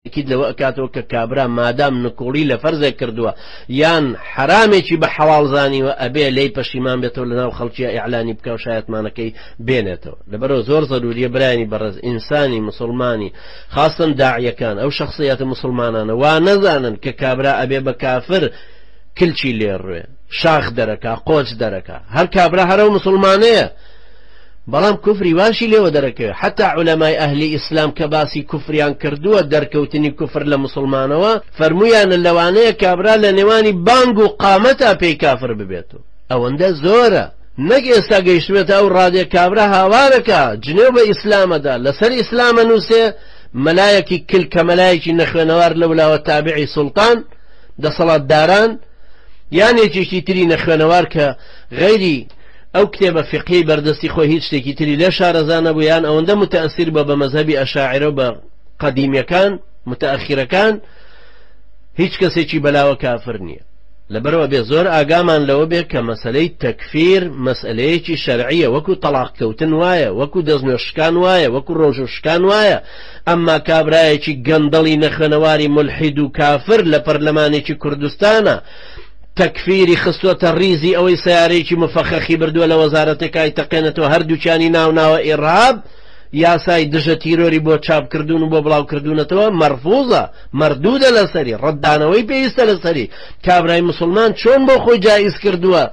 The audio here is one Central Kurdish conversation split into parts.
تەئکید لەوە ئەکاتەوە کە کابرا مادام نکوڵی لە فەرزێک کردووە یان حەرامێکی بە حەڵاڵ زانیوە ئەبێ لێی پەشیمان بێتەوە لەناو خەڵکیە ئیعلانی بکا و شایەتمانەکەی بێنێتەوە لەبەرەوە زۆر زەروریە برایانی بەڕێز ئینسانی مسلمانی خاستن داعیەکان ئەو شخصیەتە مسلمانانە وا نەزانن کە کابرا ئەبێ بە کافر کلچی لێڕوێ شاخ دەرەکە قۆچ دەرەکە هەر کابرا هەرە و مسلمانەیە بەڵام کوفری واشی لێوە دەرەکەوێ حەتا عولەمای ئەهلی ئیسلام کە باسی کوفریان کردووە دەرکەوتنی کوفر لە موسڵمانەوە فەرموویانە لەوانەیە کابرا لە نێوانی بانگ و قامەتا پێی کافر ببێت و ئەوەندە زۆرە نەک ئێستا گەیشتبێتە ئەو ڕادێ کابرا هاوارەکە جنێو بە ئیسلامەدا لەسەر ئیسلامە نووسێ مەلایەکی کل کە مەلایەکی نەخوێنەوار لەولاوە تابعی سوڵتان دەسەڵاتداران یان یەکێکی تری نەخوێنەوار کە غەیری ئەو کتێبە فیقهیەی بەردەستی خۆی هیچ شتێکی تری لێ شارەزا نەبوو یان ئەوەندە متەئسیر بووە بە مەزهەبی ئەشاعرە و بە قەدیمیەکان متەئەخیرەکان هیچ کەسێکی بەلاوە کافر نییە لەبەرەوە بێ زۆر ئاگامان لەوە بێ کە مەسلەی تەکفیر مەسلەیەکی شەرعیە وەکو تەلاق کەوتن وایە وەکو دەستنوێشکان وایە وەکو ڕۆژوشکان وایە ئەمما کابرایەکی گەندەڵی نەخوێنەواری ملحید و کافر لە پەرلەمانێکی کوردستانە تەکفیری خستۆتە ڕیزی ئەوەی سەیارەیەکی مفەخەخی بردووە لە وەزارەتەکای تەقێنێتەوە هەردووکیانی ناوناوە ئیڕهاب یاسای دژە تیرۆری بۆ چاپ کردوون و بۆ بڵاو کردوونەتەوە مەرفوزە مەردوودە لەسەری ڕەتدانەوەی پێویستە لەسەری کابرای مسلمان چۆن بۆ خۆی جائیز کردووە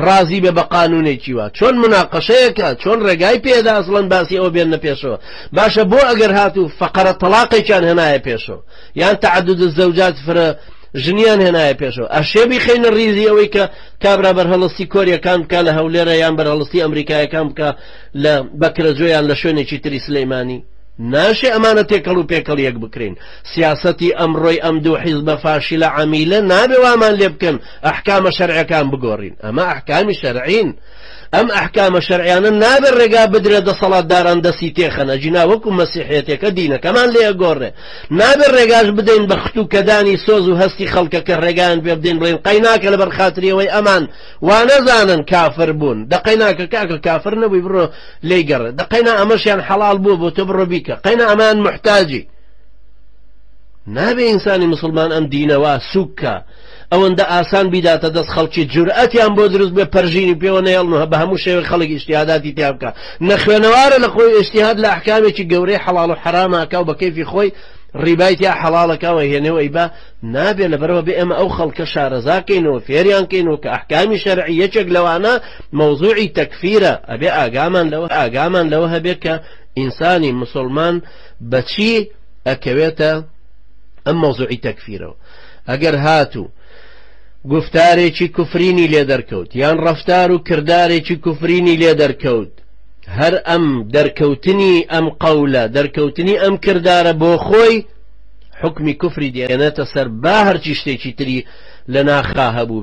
ڕازی بێ بە قانونێکی وە چۆن مناقەشەیەکە چۆن ڕێگای پێدا ئەسڵەن باسی ئەوە بێنە پێشەوە باشە بۆ ئەگەر هاتوو فەقەرە تەلاقێکیان هەنایە پێشەوە یان تعدد الزوجات فرە ژنیان هێنایە پێشەوە ئەشێ بیخینە ریزی ئەوەی کە کابرا بەرهەڵستی کۆریەکان بکە لە هەولێرە یان بەرهەڵستی ئەمریکایەکان بکە لە بەکرەجۆیان لە شوێنێکی تری سلەیمانی ناشێ ئەمانە تێکەڵ و پێکەڵ یەک بکرین سیاستی ئەمڕۆی ئەم دوو حیز بە فاشیلە عمیلە نابێ وامان لێ بکەن ئەحکامە شەرعەکان بگۆڕین ئەمە ئەحکامی شەرعین ئەم ئەحکامە شەرعیانە نابێ ڕێگا بدرێ دەسەڵات داران دەسی تێخەنە جینا وەکو مەسیحێتەکە دینەکەمان لێ گۆڕێ نابێت ڕێگاش بدەین بە ختوکەدانی سۆز و هەستی خەڵکە کە ڕێگایان پێ بدەین بڵێن قەیناکە لەبەر خاتریەوەی ئەمان وانەزانن کافر بوون دەقەیناکە کاکە کافر نەبووی بڕۆ لی گەڕێ دەقەینا ئەمەشیان حەڵال بووە بۆ تۆ بڕۆ بیکە قەینا ئەمان محتاجی نابێ ئینسانی مسلمان ئەم دینەوە سوکە ئەوەندە ئاسان بیداتە دەست خەڵکی جورئەتیان بۆ دروست بێ پەرژینی پێوە نەهێڵن و بە هەموو شێوەیەک خەڵک ئیجتیهاداتی تیا بکا نەخوێنەوارە لە خۆی ئیجتیهاد لە ئەحکامێکی گەورەی حەڵاڵ و حەرام ئاکا و بە کەیفی خۆی ڕیبای تیا حەڵاڵە کا و ئەیهێنێ و ئەیبا نابێ لەبەرەوە بێ ئێمە ئەو خەڵکە شارەزا کەینەوە فێریان کەینەوە کە ئەحکامی شەرعی یەکێک لەوانە مەوزوعی تەکفیرە ئەبێ ئاگامان لەوە ئاگامان لەوە هەبێ کە ئینسانی مسلمان بەچی ئەکەوێتە ئەم مەوزوعی تەکفیرەوە ئەگەر هاتوو گوفتارێکی کوفرینی لێ دەرکەوت یان ڕفتار و کردارێکی کوفرینی لێ دەرکەوت هەر ئەم دەرکەوتنی ئەم قەولە دەرکەوتنی ئەم کردارە بۆ خۆی حکمی کوفری دێنێتە سەر با هەرچی شتێکی تری لە ناخا هەبوو